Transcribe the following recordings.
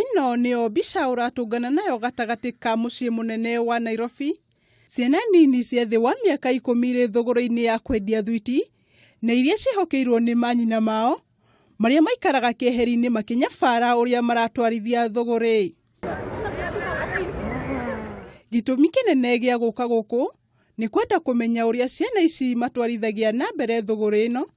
Ĩno nĩyo mbica ũratũngana nayo gatagatĩ ka mũciĩ mũnene wa Nairobi. Ciana nini cia thĩ wa mĩaka ikũmi irĩ thũgũrũ-inĩ ya kwendia thwiti na iria ciĩhokeirwo nĩ manyina mao marĩa maikaraga kĩeheri-inĩ makĩnyabara ũrĩa maratwarithia thũgũrĩ. Gĩtũmi kĩnene gĩa gũka gũkũ nĩ kwenda kũmenya ũrĩa ciana ici matwarithagia na mbere thũgũrĩ ĩno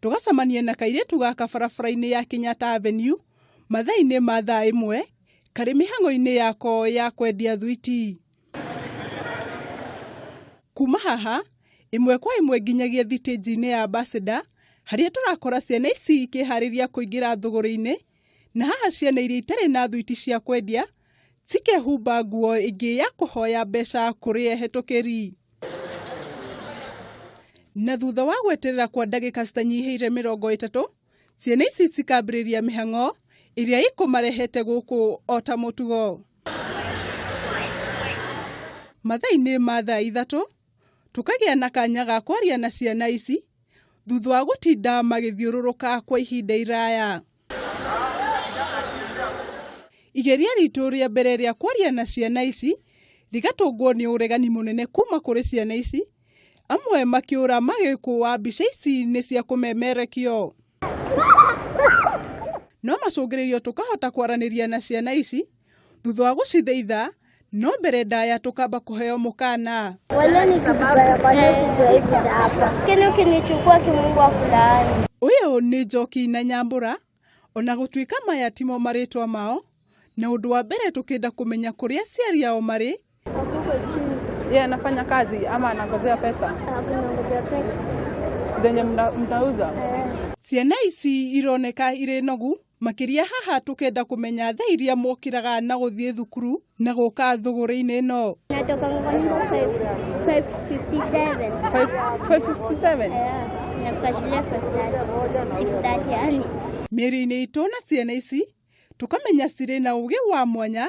tũgacemanie na kairĩtu gaka barabara-inĩ ya Kenyatta Avenue mathaa-inĩ ma thaa ĩmwe karĩ mĩhang'o-inĩ yako ya kwendia thwiti. Kuma haha ĩmwe kwa ĩmwe nginyagia thitĩnji-inĩ ya Ambassador harĩa tũrakora ciana ici ikĩharĩria kũingĩra thũgũrĩ-inĩ Na haha ciana iria itarĩ na thuiti cia kwendia cikehumba nguo ĩngĩ ya kũhoya mbeca kũrĩ ehetũkĩri. Na thutha wa gweterera kwa ndagĩka citanyihĩire mĩrongo ĩtatũ, ciana ici cikambĩrĩria mĩhang'o ĩrĩa ikũmarehete gũkũ o ta mũtugo. Mathaa-inĩ ma thaa ithatũ, Tũkagĩa na kanya ga kwaria na ciana ici thutha wa gũtinda magĩthiũrũrũka kwa ihinda iraya. Igeria ritũ rĩa mbere rĩa kwaria na ciana ici rĩgatũngwo nĩ ũregani mũnene kuma kũrĩ ciana ici, amwe makĩũra magĩkũa mbica ici nĩ cia kũmemerekio. No macũngĩrĩrio tũkahota kwaranĩria na ciana ici. thutha wa gũcithĩitha no mbere ndaya tũkamba kũheo mũkana Wale ni vibaya kwa nini sijawahi kuja hapa? Kile ukinichukua kimungu wa kulaani. ũyũ nĩ njoki na nyambura ona gũtuĩka maya timo marĩtwa mao na ũndũ wa mbere tũkĩenda kũmenya kũrĩa aciari ao marĩ Wako chini. Yeye anafanya kazi ama anangojea pesa Hakuna ngoja pesa. zenye mna- mnauza? Eh. ciana ici ironeka irĩ nogu Makĩria haha tũkenda kũmenya thaa iria mokĩraga na gũthiĩ thukuru na gũka thũgũrĩ-inĩ ĩno. Natoka Ng'ongo 5:57. 557. Yeah. Nafika shule 5:30. 6:30 yani. Mĩri-inĩ itũ na ciana ici tũkamenya cirĩ na ũgĩ wa mwanya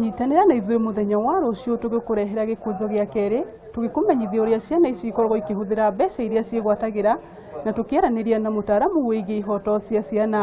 nyitanĩra na ithuĩ mũthenya wa rũciũ tũgĩkũrehera gĩkũnjo gĩa kerĩ tũgĩkũmenyithia ũrĩa ciana ici ikoragwo ikĩhũthĩra mbeca iria ciĩgwatagĩra na tũkĩaranĩria na mũtaaramu wĩgiĩ ihoto cia ciana